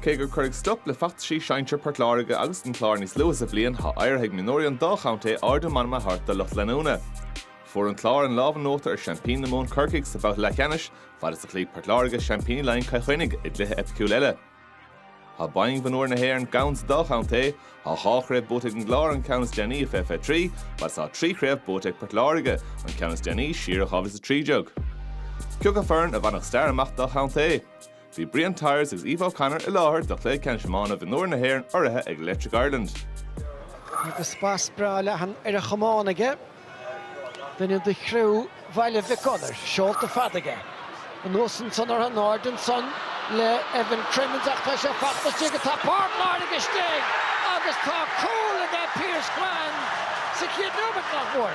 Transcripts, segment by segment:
Cé gur cuireadh stop le feachtaisí sinsir Port Láirge agus an Chláir níos luaithe sa bhliain, thá éirithe ag mionúirí an dá chontae ardú meanman a thabhairt do lucht leanúna. Fuair an Clár an lámh in uachtar ar sheaimpíní na Mumhan Corcaigh sa bhabhta leathcheannais, fad is a chloígh Port Láirge seaimpíní Laighean Cill Chainnigh i gcluiche eipiciúil eile. Thá boinn mhionúir na hÉireann gann sa dá chontae. Tá dhá chraobh buaite ag an gClár, an ceann is déanaí i 2023, agus tá trí chraobh buaite ag Port Láirge, an ceann is déanaí siar i 2013. Cé acu foireann a bhainfeadh stair amach dá chontae? Bhí Brian Tyers agus Aoife O'Connor i láthair do chluiche ceannais iomána mionúir na hÉireann urraithe ag Electric Ireland. Agus spas breá leathan ar a chamán aige. Duine de chriú Bhaile Mhic Gonair, seolta fada aige. Anuas ansan orthu, in airde ansan le Evan Crimmins ach tá sé fachta istigh go dtá Port Láirge istigh agus tá cúl aige Pierce Quann sa chéad nóiméad, nach mór.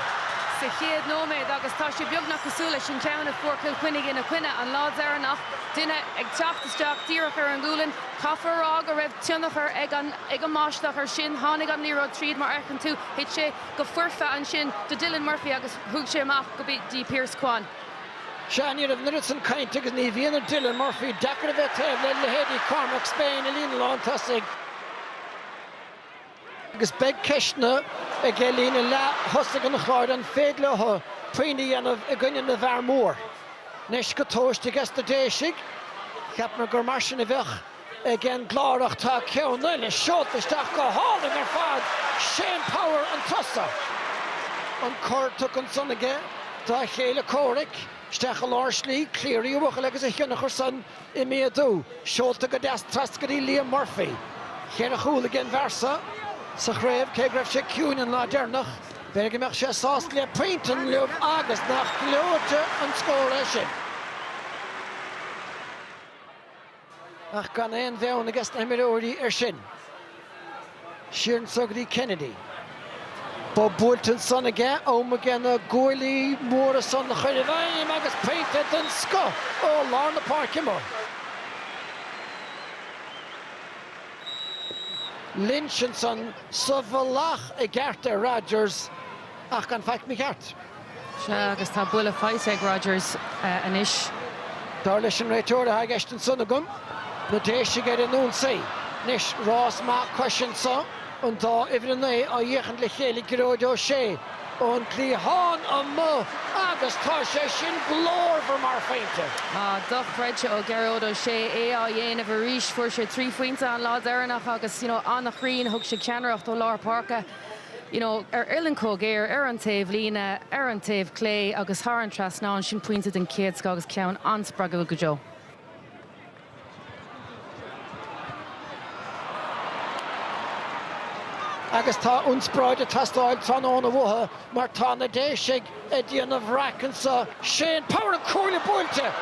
Sa chéad nóiméad agus tá sé beagnach cosúil leis an ceann a fuair Cill Chainnigh ina gcoinne an lá deireanach, duine ag teacht isteach díreach ar an ngualainn. Caithfear a rá go raibh tionchar ag an ag an mbáisteach ar sin, tháinig an liathróid tríd mar a fheiceann tú, thit sé. go foirfe ansin do Dylan Murphy agus thug sé amach go dtí Pierce Quann. Sea, ní raibh an oiread san cainte agus ní bhíonn ar Dylan Murphy deacair a bheith taobh le leithéidí Cormac Spain i líne lántosaigh, agus beidh ceisteanna aigen líne leath-thosaigh an Chláir an féidir leo puinn a dhéanamh i gcoinne na bhfear mór. Anois go dtúiste aige sna Déisigh, cheapamar gur mar sin a bheadh. Ag an gClár ach tá ceann eile, seolta isteach go hálainn ar fad, Shane Power ann chun tosaigh. An cor tugtha ansan aige dá chéile comhraic, isteach i lár slí, Cleary an buachaill agus a thionchar san ag méadú, seolta go deas trasna go dtí Liam Murphy. Cheithre chúl aigen bhfear seo sa chraobh, cé go raibh sé ciúin an lá deireanach, b'fhéidir go mbeadh sé sásta le pointe inniu agus nach gleoite an scór é sin! Ach gan aon bheann aige sna himreoirí air sin, siar anso go dtí Kennedy. Bob buailte ansan aige, am aige na guaillí móra san a chur i bhfeidhm agus pointe den scoth ó lár na páirce móire. Lynch ansan sa bhealach i gceart ar Rodgers ach gan faic mícheart. Sea, agus tá buille faighte ag Rodgers anois. Dar leis an réiteoir atá i gceist anso agam, na Déisigh ar an ionsaí. Anois, rás maith coise anso, an dá uimhir a naoi á dh'fhéachaint le chéile, Gearóid Ó Sé ón gcliathán amuigh agus tá sé sin glórmhar mar phointe! Ah, dochreidte ó Ghearóid Ó Sé é á dhéanamh arís. Fuair sé trí phointe an lá deireanach agus, you know, an-chruinn, thug sé ceannaireacht ó lár páirce. you know, ar uillinn chomh géar, ar an taobh líne, ar an taobh clé agus thar an trasnán, sin pointe den chéad scoth agus ceann an-spreagúil go deo. Agus tá ionspráid ag teastáil tráthnóna uathu mar tá na Déisigh ag déanamh raic anso. Shane Power an cuaille buailte!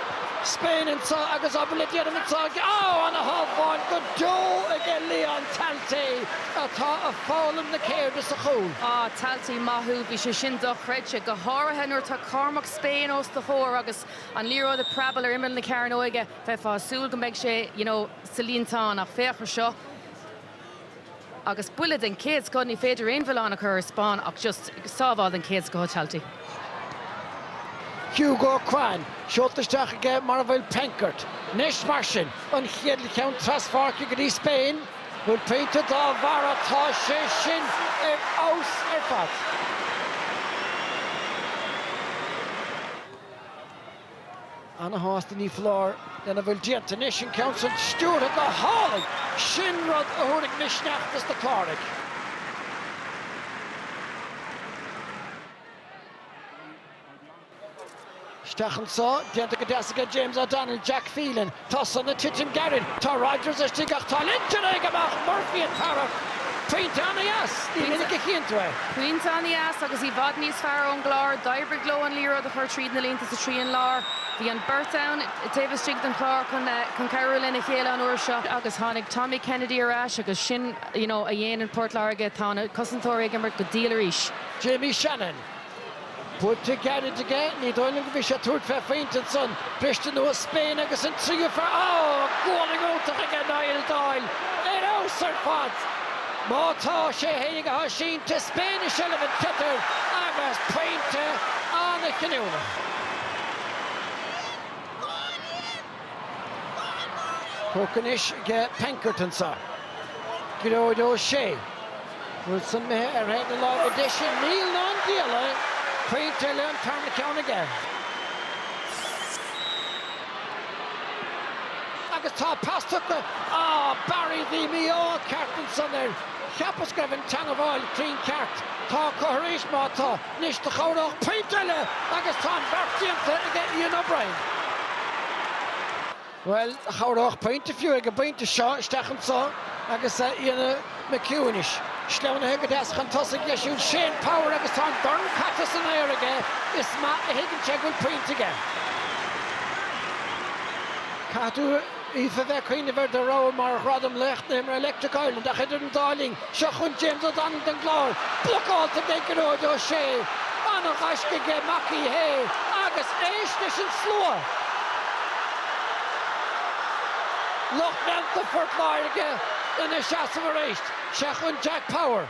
Spain anso agus obair le déanamh anso ag, á, ana-shábháil go deo aige Leon Talty atá ag foghlaim na ceirde sa chúl. Á, Talty, maith thú, bhí sé sin dochreidte, go háirithe nuair atá Cormac Spain os do chomhair agus an liathróid ag preabáil ar imeall na cearnóige, bheifeá ag súil go mbeidh sé, you know, sa líontán ach féach ar seo. Agus buille den chéad scoth, ní féidir aon mhilleán a chur ar Spain ach just, sábháil den chéad scoth ó Talty. Hugo Quann seolta isteach aige mar a bhfuil Penkert. Anois mar sin, an chéad cheann traspháirce go dtí Spain, bhuel pointe dá bharra, tá sé sin ar fheabhas ar fad. Ana-shásta ní foláir lena bhfuil déanta anois, an ceann san stiúrtha go hálainn! Sin rud a thabharfaidh misneach dos na Cláraigh. Isteach anso, déanta go deas aige James O'Donnell, Zak Phelan. Tá san ag titim gairid. Tá Rodgers istigh ach tá Lynch ag imeacht! Murphy ag tarrac pointe ana-dheas. Ní minic a chíonn tú é. Pointe ana-dheas agus i bhfad níos fearr ón gClár. D'oibrigh leo an liathróid a chur tríd na línte sa trian láir. Bhí an beirt ann taobh istigh den Chlár chun cabhrú lena chéile an uair seo. Agus tháinig Tommy Kennedy ar ais agus sin a dhéanann Port Láirge, tá na cosantóirí ag imirt go diail arís. Jamie Shanahan. Buailte gairid aige, ní dóigh liom go bhí sé ag tabhairt fé phointe ansan. Briste anuas Spain agus an tríú fear, á! gualainn iontach aige Niall Doyle, ar fheabhas ar fad! Má tá sé fhéin ag a sínte, Spain i seilbh an tsliotair agus pointe ana-chinniúnach. Tógtha anois aige Penkert anso. Gearóid Ó Sé. Bhuel san imithe ar thaobh na láimhe deise, níl ná an diabhal é! Pointe eile, an tarna ceann aige. Agus tá pas tugtha. Ah, Barry, bhí mí-ádh ceart ansan air. Cheapas go raibh an teangabháil cruinn ceart. Tá acu arís, má tá, anois do chabhródh pointe eile agus tá an beart déanta aige Ian O'Brien. Bhuel, chabhródh pointe fiú ag an bpointe seo, isteach anso agus Éanna McHugh anois. Sleamhnaithe go deas chun tosaigh leis an Shane Power agus tá an dorn caite san aer aige, is maith a thuigeann sé go bhfuil pointe aige. Caithfidh tú, Aoife, bheith ag cuimhneamh ar do rogha mar ghradam, Laoch na hImeartha Electric Ireland, ach idir an dá linn, Seo chugainn James O'Donnell don gClár, blocáilte ag Gearóid Ó Sé. An-ghaisce aige Mac Uí Shé agus éist leis an slua! Lucht leanta Phort Láirge ina seasamh arís. Seo chugainn Jack Power.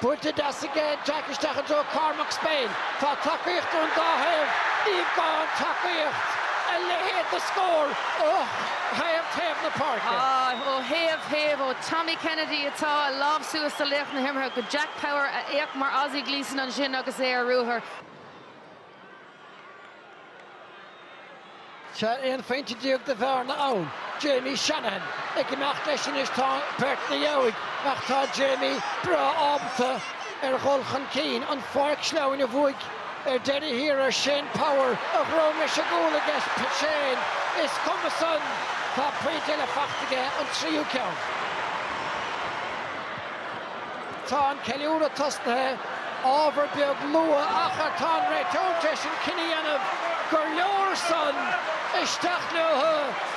Buaite deas aige Jack. Isteach i dtreo Cormac Spain. Tá tacaíocht ón dá thaobh, ní gá an tacaíocht, a leithéid de scór ó thaobh taobh na páirce. Ó thaobh taobh, ó Tommy Kennedy atá a lámh suas do laoch na himeartha, go Jack Power a fhéach mar Aussie Gleeson ansin agus é ar ruathar. Tá aon phointe déag de bhearna ann. Jamie Shanahan ag imeacht leis anois, tá beirt ina dheabhaidh ach tá Jamie breá ábalta ar dhul chun cinn an pháirc sleamhain a bhuaigh ar deireadh thiar air, Shane Power a dhrom leis an gcúl aige Shane. Is cuma san, tá pointe eile faighte aige, an tríú ceann. Tá an ceiliúradh tosnaithe. Ábhar beag luath ach tá an réiteoir tar éis an cinneadh a dhéanamh gur leor san. Isteach leo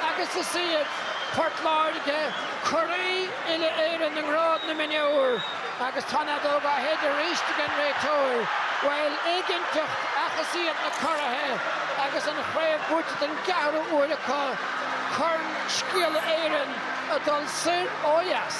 agus is iad Port Láirge curaí uile-Éireann i ngrád na mionúr agus tá an fheadóg á shéideadh arís ag an réiteoir. Bhuel, éiginnteacht ach is iad na curaithe agus an chraobh buaite den gceathrú uair acu, Corn Scéala Éireann ag dul soir ó dheas.